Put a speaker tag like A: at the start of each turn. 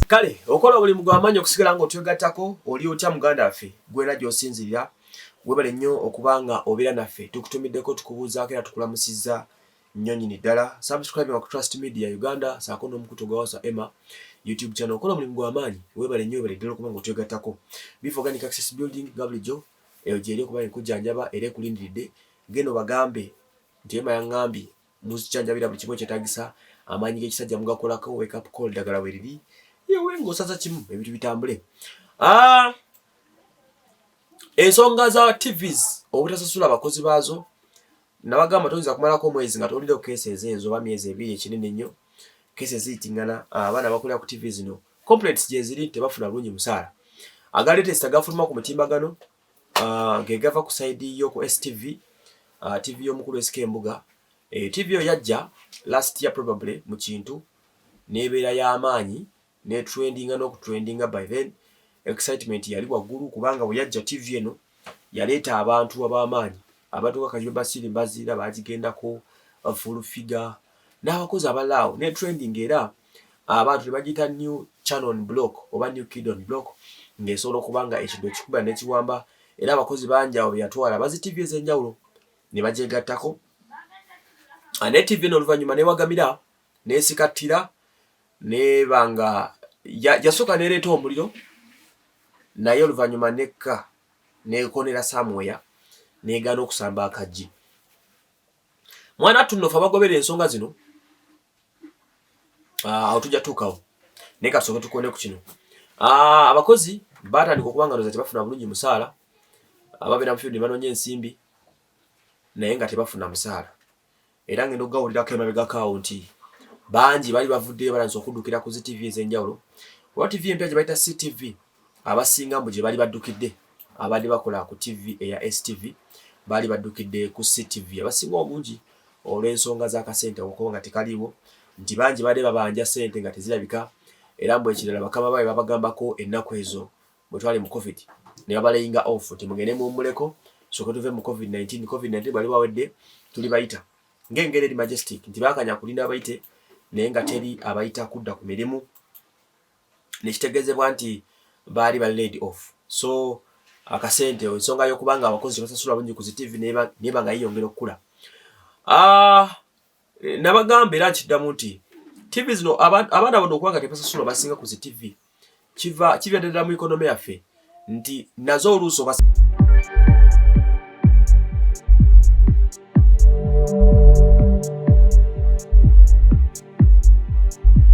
A: kale okola obulimu gwamaanyi okusigala nga otwegattako oli otya muganda waffe gwera gyosinzirira webale nnyo okuba nga obeera naffe tukutumiddeko tukubuuzaako era tukulamusizza nnyo nyini ddala subscribe wa trust media uganda saako n'omukutu gwawasa emma youtube channel okola omulimu gwamaanyi webale nnyo webale ddala okuba nga otwegattako bivoganic access building nga bulijjo Eyo gy'eri okuba enkujjanjaba era ekulindiridde. Genda obagambe nti, Ema yang'ambye, Muzikyanjabira buli kimu ekyetaagisa. Amaanyi g'ekisajja mugakolako. Wake up call ddagala weriri. Yewe ng'osaza kimu ebintu bitambule. Ah! Ensonga za TVs obutasasula bakozi baazo nabagamba toyinza kumalako omwezi nga towulireko keesi ezo enzo oba myezi ebiri ekinene nnyo keesi eziyitingana abaana bakulira ku ttivi zino Complaints gyeziri nti tebafuna bulungi musaala. Aga latest agafuluma ku mutimbagano uh, ge gava ku sayidi y'oku STV, uh, TV y'omukulu SK Mbuga. E, eh, TV yo yajja last year probably mu kintu n'ebeera y'amaanyi ne trendinga n'okutrendinga by then excitement yali waggulu kubanga bwe yajja TV eno yaleeta abantu ab'amaanyi abantu nga Kajumba Basiri Mbaziira baagigendako Full Figure n'abakozi abalaawo ne trending era abantu nebagiyita new channel on block oba new kid on block ng'esobola okuba nga ekido ekikuba nekiwamba era abakozi bangi awo beyatwala bazi ttivi ez'enjawulo ne bagyegattako ah, ne ttivi eno oluvannyuma newagamira nesikattira neba nga yasooka nereeta omuliro naye oluvannyuma nekka nekonera samweya negana okusamba akajji mwana tunno fe abagobera ensonga zino ah, awo tujja tuukawo naye kasooke tukone ku kino ah, abakozi batandika okuba nga noza tebafuna bulungi musaala ababeera mufield banonya ensimbi naye nga tebafuna musaala era ngenda okugawulirako emabegakaawo nti bangi bali bavuddeyo balanisa okuddukira ku zitv ez'enjawulo oba tv empya gye bayita ctv Abasinga mbu gye bali baddukidde abadde bakola ku TV eya STV baali baddukidde ku CTV abasinga obungi olw'ensonga z'akasente okuba nga tekaliiwo nti bangi baali babanja sente nga tezirabika era mbu ekirala bakama baabwe babagambako ennaku ezo bwe twali mu covid ne babalayinga off nti mugende muwummuleko soke tuve mu covid 19 covid 19 bali bawedde tuli bayita ng'engeri eri majestic nti baakanya kulinda abayite naye nga teri abayita kudda ku mirimu nekitegezebwa nti baali ba laid off so akasente ensonga yokuba nga abakozi tebasasula bungi ku zitivi neba nga yeyongera okukula ah, nabagamba era nkiddamu nti tv zino abaana bano okuba nga tebasasula basinga ku zitivi kiva kivya ddala mu ekonome yaffe nti nazo oluusi oba